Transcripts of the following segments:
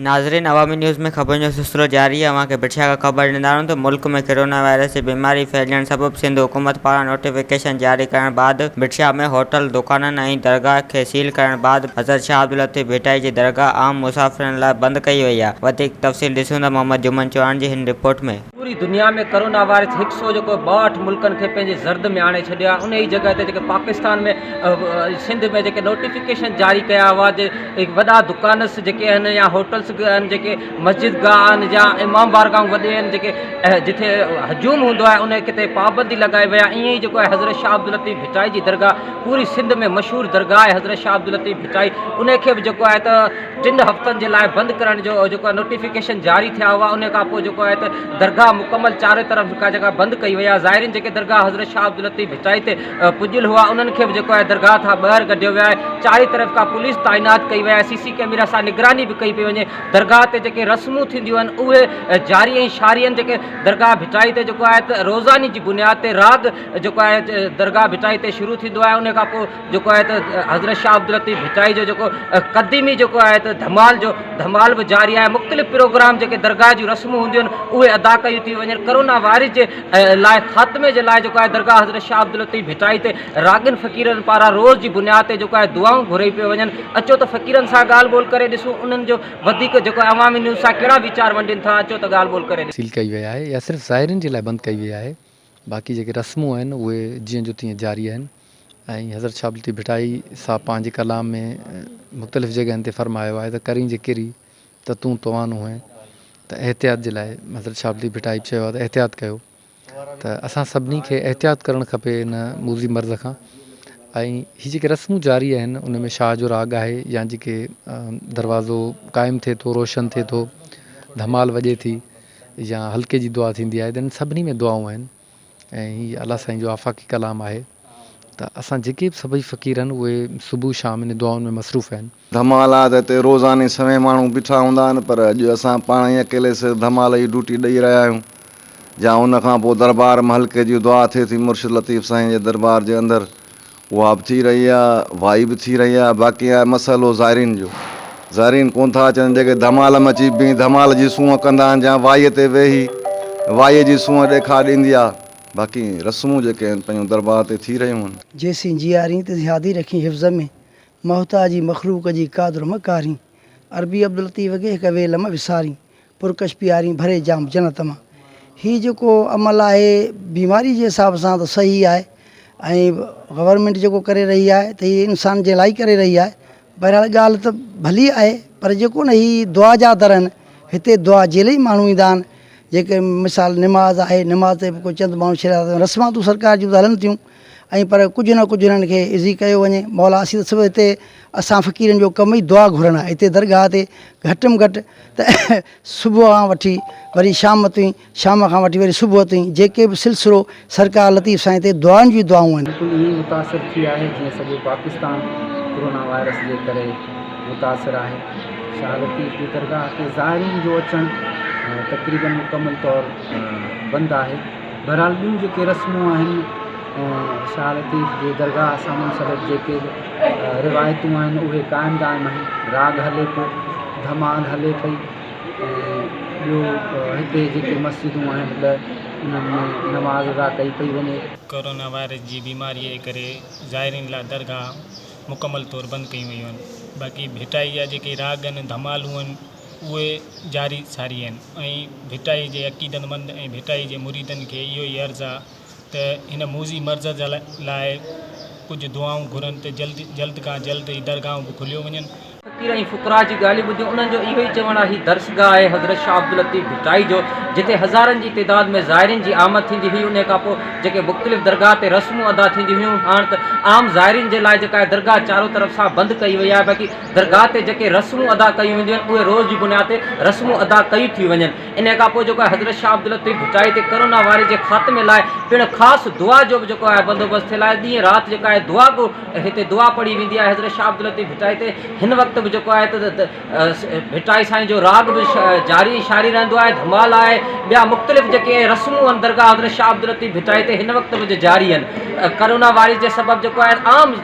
ناظرين عوامي نيوز ۾ خبرن جو سلسلو جاري آهي اوهان کي بٺيا کان خبر ڏيندا رهون ته ملڪ ۾ ڪرونا وائرس جي بيماري ڦهلجڻ سبب سنڌ حڪومت پاران نوٽيفڪيشن جاري ڪرڻ بعد بٺيا ۾ هوٽل دڪانن ۽ درگاهه کي سيل ڪرڻ بعد حضرت شاهه عبداللطيف ڀٽائي جي درگاهه عام مسافرن لاء بند ڪئي وئي آهي وڌيڪ تفصيل ڏسون ته محمد جمن چوهاڻ جي هن رپورٽ ۾. پوري دنيا ۾ ڪرونا وائرس هڪ سو جيڪو ٻاهٺ ملڪن کي پنهنجي زرد ۾ آڻي ڇڏيو آهي انهي جڳهه تي جيڪي پاڪستان ۾ سنڌ ۾ جيڪي نوٽيفڪيشن جاري ڪيا هئا جي وڏا دڪانس جيڪي آهن يا هوٽلس به آهن جيڪي مسجد گاهه آهن يا امام بارگاهون وڏيون آهن جيڪي جتي هجوم هوندو آهي انهي ڪتي پابندي لڳائي وئي آهي ائين ئي جيڪو آهي حضرت شاهه عبداللطيف ڀٽائي جي درگاهه پوري سنڌ ۾ مشهور درگاهه آهي حضرت شاهه عبداللطيف ڀٽائي انهي کي به جيڪو آهي ته ٽن هفتن جي لاء بند ڪرڻ جو جيڪو نوٽيفڪيشن جاري ٿيا هئا ان کان پوء جيڪو آهي ته درگاهه مڪمل چارئي طرف جيڪا جيڪا بند ڪئي وئي آهي زائرين جيڪي درگاهه حضرت شاهه عبداللطيف ڀٽائي تي پڄيل هئا انهن کي به جيڪو آهي درگاهه کان ٻاهر ڪڍيو ويو آهي چارئي طرف کان پوليس تعينات ڪئي وئي آهي سي سي ڪئميرا سان نگراني به ڪئي پئي وڃي درگاهه تي جيڪي رسمون ٿينديون آهن اهي جاري ۽ شاري آهن جيڪي درگاهه ڀٽائي تي جيڪو آهي ته روزاني جي بنياد تي راڳ جيڪو آهي درگاهه ڀٽائي تي شروع ٿيندو آهي ان کان پوء جيڪو آهي ته حضرت شاهه عبداللطيف ڀٽائي جو جيڪو قديمي جيڪو آهي ته ڌمال جو ڌمال به جاري آهي مختلف پروگرام جيڪي درگاهه جون رسمون هونديون آهن اهي ادا ڪيون ٿيون وڃن ڪرونا وائرس جي لاء خاتمي جي لاء جيڪو آهي درگاهه حضرت شاهه عبداللطيف ڀٽائي تي راڳين فقيرن پاران روز جي بنياد تي جيڪو آهي دعائون گهري پيون وڃن اچو ته فقيرن سان ڳالهه ٻولهه ڪري ڏسون انهن جو وڌيڪ جيڪو آهي عوامي نيوز سان ڪهڙا ويچار ونڊين ٿا اچو ته ڳالهه ٻولهه ڪري ڏسون. سيل ڪئي وئي آهي يا صرف زائرين جي لاء بند ڪئي وئي آهي باقي جيڪي رسمون آهن اهي جيئن جو تيئن جاري آهن. ۽ حضرت شاھ عبدالطيف ڀٽائي صاحب پنهنجي ڪلام ۾ مختلف جڳهين تي فرمايو آهي ته ڪرين جي ڪري ته تون توانو هئين ته احتياط جي لاء حضرت شاھ عبدالطيف ڀٽائي چيو آهي ته احتياط ڪيو ته اسان سڀني کي احتياط ڪرڻ کپي ان موذي مرض کان ۽ هي جيڪي رسمون جاري آهن ان ۾ شاھ جو راڳ آهي يا جيڪي دروازو قائم ٿئي ٿو روشن ٿئي ٿو ڌمال وڄي ٿي يا حلقي جي دعا ٿيندي آهي ته ان سڀني ۾ دعائون آهن ۽ هي الله سائين جو آفاقي ڪلام آهي ته اسان جيڪي به سڀئي فقير آهن اهي صبح شام انهي دعائن ۾ مصروف آهن. ڌمال آ ته هتي روزاني سوين ماڻهو بيٺا هوندا آهن پر اڄ اسان پاڻ ئي اڪيلي سر ڌمال جي ڊوٽي ڏئي رهيا آهيون جا ان کان پوء دربار م حلقي جي دعا ٿئي ٿي مرشد لطيف سائين جي دربار جي اندر اها به ٿي رهي آهي وائي به ٿي رهي آهي باقي آهي مسئلو زائرين جو زائرين ڪونه ٿا اچن جيڪي ڌمال ۾ اچي بيهي ڌمال جي سونهن ڪندا آهن جا وائي تي ويهي وائي جي سونهن ڏيکاء ڏيندي آهي باقي رسمون جيڪي آهن پنهنجو درٻار تي ٿي رهيون آهن. جيسين جيارين ته زيادي رکين حفظ ۾، محتاجي مخلوق جي قادر م ڪارين، عربي عبداللطيف ڪي هڪ ويل م وسارين، پرڪش پيارين ڀري جام جنت مان. هي جيڪو عمل آهي بيماري جي حساب سان ته صحيح آهي ۽ گورنمينٽ جيڪو ڪري رهي آهي ته هي انسان جي لاء ئي ڪري رهي آهي بهرحال ڳالهه ته ڀلي آهي پر جيڪو نه هي دعا جا در آهن هتي دعا جي لئي ماڻهو ايندا آهن جيڪي مثال نماز آهي نماز تي به ڪو چند ماڻهو شرارتون رسماتون سرڪار جون ته هلن ٿيون ۽ پر ڪجهه نه ڪجهه هنن کي عزي ڪيو وڃي مولا اسين ته صرف هتي اسان فقيرن جو ڪم ئي دعا گهرڻ آهي هتي درگاهه تي گهٽ م گهٽ ته صبح کان وٺي وري شام تائين شام کان وٺي وري صبح تائين جيڪي به سلسلو سرڪار لطيف سائين تي دعائن جون ئي دعائون آهن. بلڪل ائين ئي متاثر ٿي آهي جيئن سڄو پاڪستان ڪورونا وائرس جي ڪري متاثر آهي شاهه لطيف جي درگاهه تي زائرين جو اچڻ تقريبن مڪمل طور بند آهي. بهرحال ٻيون جيڪي رسمون آهن شاهه لطيف جي درگاهه سامونڊ سبب جيڪي روايتون آهن اهي قائم دائم آهن راڳ هلي پيو ڌمال هلي پئي ۽ ٻيو هتي جيڪي مسجدون آهن ٻه انهن ۾ نماز ادا ڪئي پئي وڃي. ڪورونا وائرس جي بيماريء جي ڪري زائرين لاء درگاهه مڪمل طور بند ڪيون ويون آهن باقي ڀٽائي جا جيڪي راڳ آهن ڌمالون آهن اهي جاري ساري آهن ۽ ڀٽائي جي عقيدتمند ۽ ڀٽائي جي مريدن کي اهو ئي عرض آ ته هن موذي مرض لاء ڪجهه دعائون گهرن ته جلد جلد کان جلد هي درگاهون به کليو وڃن. فقير ۽ فقراء جي ڳالهيون ٻڌيون، انهن جو اهو ئي چوڻ آ هي درسگاهه آهي حضرت شاهه عبداللطيف ڀٽائي جو، جتي هزارن جي تعداد ۾ زائرين جي آمد ٿيندي هئي، انهي کان پوء جيڪي مختلف درگاهه تي رسمون ادا ٿينديون هيون، هاڻ ته عام زائرين جي لاء جيڪا هي درگاهه چارو طرف سان بند ڪئي وئي آهي، باقي. درگاهه تي جيڪي رسمون ادا ڪيون وينديون آهن اهي روز جي بنياد تي رسمون ادا ڪيون ٿيون وڃن انهي کان پوء جيڪو آهي حضرت شاهه عبداللطيف ڀٽائي تي ڪرونا وائرس جي خاتمي لاء پڻ خاص دعا جو به جيڪو آهي بندوبست ٿيل آهي ڏينهن رات جيڪا آهي دعا گو هتي دعا پڙهي ويندي آهي حضرت شاهه عبداللطيف ڀٽائي تي هن وقت به جيڪو آهي ته ڀٽائي سائين جو راڳ به جاري شاري رهندو آهي ڌمال آهي ٻيا مختلف جيڪي رسمون آهن درگاهه حضرت شاهه عبداللطيف ڀٽائي تي هن وقت به جاري آهن ڪرونا وائرس جي سبب جيڪو آهي عام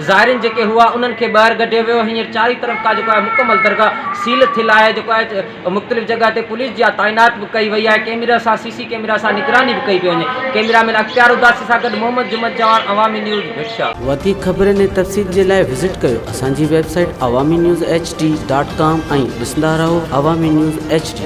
زائرين جيڪي هئا انهن کي ٻاهر ڪڍيو ويو هينئر چارئي طرف ڪا جيڪو آهي مڪمل درگاهه سيل ٿيل آهي جيڪو آهي مختلف جڳهه تي پوليس جي آ تعينات به ڪئي وئي آهي ڪيميرا سان سي سي ڪيميرا سان نگراني به ڪئي پئي وڃي ڪيميرا مين اختيار اداسي سان گڏ محمد جمعت چوهاڻ عوامي نيوز ڀٽ. وڌيڪ خبرن ۽ تفصيل جي لاء وزٽ ڪريو اسان جي website Awami news HD dot ڊاٽ ڪام ۽ ڏسندا رهو عوامي نيوز ايڇ ڊي.